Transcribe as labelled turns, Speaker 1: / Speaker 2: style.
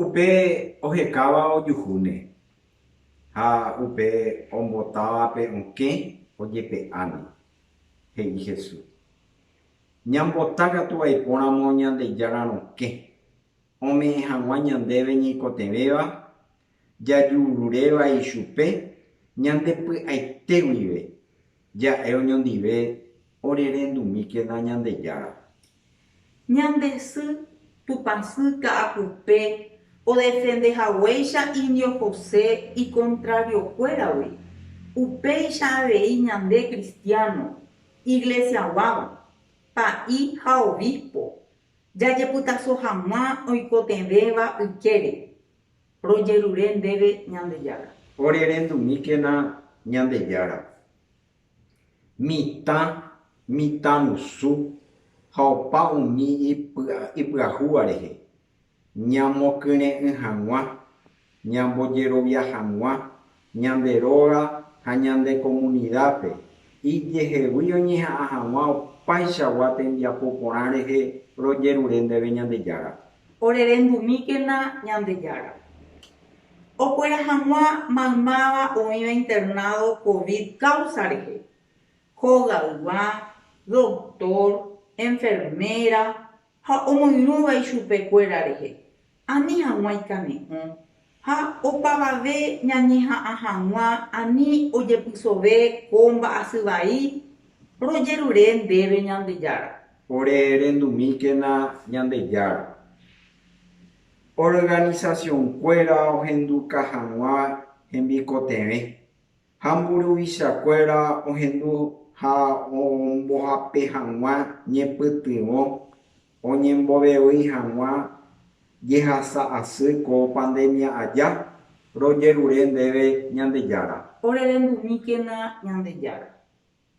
Speaker 1: Upe ohekáva ojuhúne, ha upe ombotávape okẽ ojepe'áne, he'i Jesús. Ñambota katu vaipóramo Ñandejára rokẽ, ome'ẽ hag̃ua ñandéve ñeikotevẽva jajururéva ichupe ñande py'aite guive, ja'e oñondive orerendumíkena Ñandejára. Ñande sy tupãsy ka'akupe odefende haguéicha indio José ikontrariokuéragui, upéicha avei ñande kristiáno, iglesiaguáva, pa'i ha obispo, jajepytaso hag̃ua oikotevẽva ykére. Rojerure ndéve Ñandejára. Orerendumíkena Ñandejára. Mitã, mitã rusu ha opa umi ipyahúva rehe, ñamokyre'ỹ hag̃ua, ñambojerovia hag̃ua ñande róga ha ñande komunidápe, ijehegui oñeha'ã hag̃ua opaichagua tembiapo porã rehe rojerure ndéve Ñandejára. Orerendumíkena Ñandejára. Okuera hag̃ua maymáva oĩva internado Covid káusa rehe, hogaygua, doktór, enferméra, Ha omoirũva ichupe kuéra rehe, ani haguã ikane'õ, ha opavave ñañeha'ã haguã ani ojepysove ko mba'asy vai, rojerure ndéve Ñandejára. Ore rendumíkena Ñandejára. Organización kuéra ohenduka haguã hembikotevẽ, Ha mburuvichakuéra ohendu ha ombohape hag̃ua ñepytyvõ oñembovevýi hag̃ua jehasa asy ko pandemia aja, rojerure ndéve Ñandejára. Orerendumíkena Ñandejára.